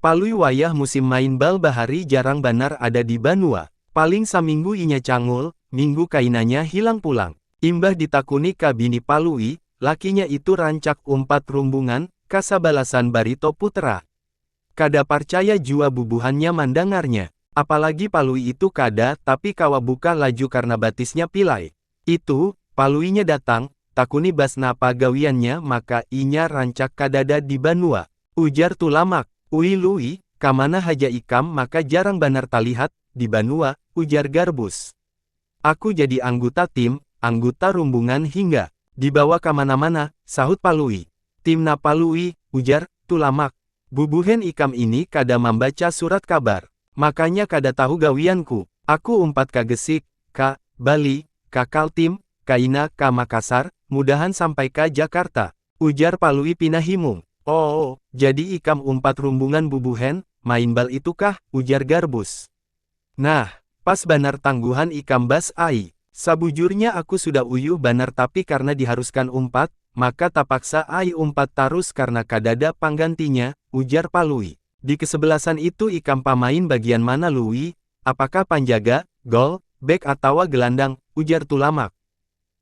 Palui wayah musim main bal bahari jarang banar ada di banua. Paling saminggu inya cangul, minggu kainanya hilang pulang. Imbah ditakuni ka bini Palui, lakinya itu rancak umpat rumbungan, ka sabalasan Barito Putra. Kada parcaya jua bubuhannya mandangarnya. Apalagi Palui itu kada tapi kawa buka laju karna batisnya pilai. Itu, paluinya datang, takuni bas napa gawiannya maka inya rancak kadada di banua. Ujar Tulamak, Ui Lui, kamana haja ikam maka jarang banar talihat, di banua, ujar Garbus. Aku jadi angguta tim, angguta rumbungan hingga. Dibawa kamana-mana, sahut Palui. Tim napa Lui, ujar, Tulamak. Bubuhan ikam ini kada mambaca surat kabar. Makanya kada tahu gawianku. Aku umpat ka Gesik, ka, Bali, ka Kaltim, kaina ka Makassar, mudahan sampai ka Jakarta. Ujar Palui pina himung. Oo, jadi ikam umpat rumbungan bubuhan, main bal itukah? ujar Garbus. Nah, pas banar tangguhan ikam Bas ai. Sabujurnya aku sudah uyuh banar tapi karna diharuskan umpat, maka tapaksa ai umpat tarus karna kadada panggantinya, ujar Palui. Di kesebelasan itu ikam pamain bagian mana Lui? Apakah panjaga, gol, bek atawa gelandang? ujar Tulamak.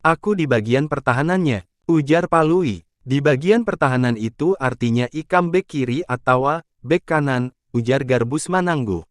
Aku di bagian pertahanannya, ujar Palui. Di bagian pertahanan itu artinya ikam bek kiri atawa bek kanan, ujar Garbus manangguh.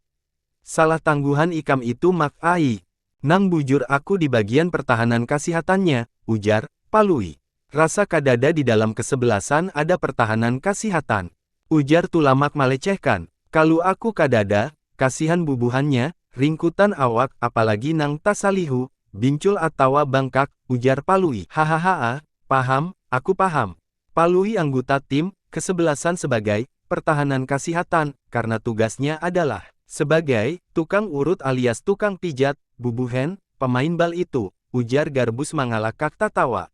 Salah tangguhan ikam itu Mak ai. Nang bujur aku di bagian pertahanan kasihatannya, ujar Palui. Rasa kadada di dalam kesebelasan ada pertahanan kasihatan. Ujar Tulamak malecehkan. Kalu aku kadada, kasihan bubuhannya, ringkutan awak, apalagi nang tasalihu, bincul atawa bangkak, ujar Palui. Hahahaa, paham, aku paham. Palui angguta tim, kesebelasan sebagai, pertahanan kasihatan, karna tugasnya adalah, sebagai, tukang urut alias tukang pijat, bubuhen, pemain bal itu, ujar Garbus mangalakak tatawa.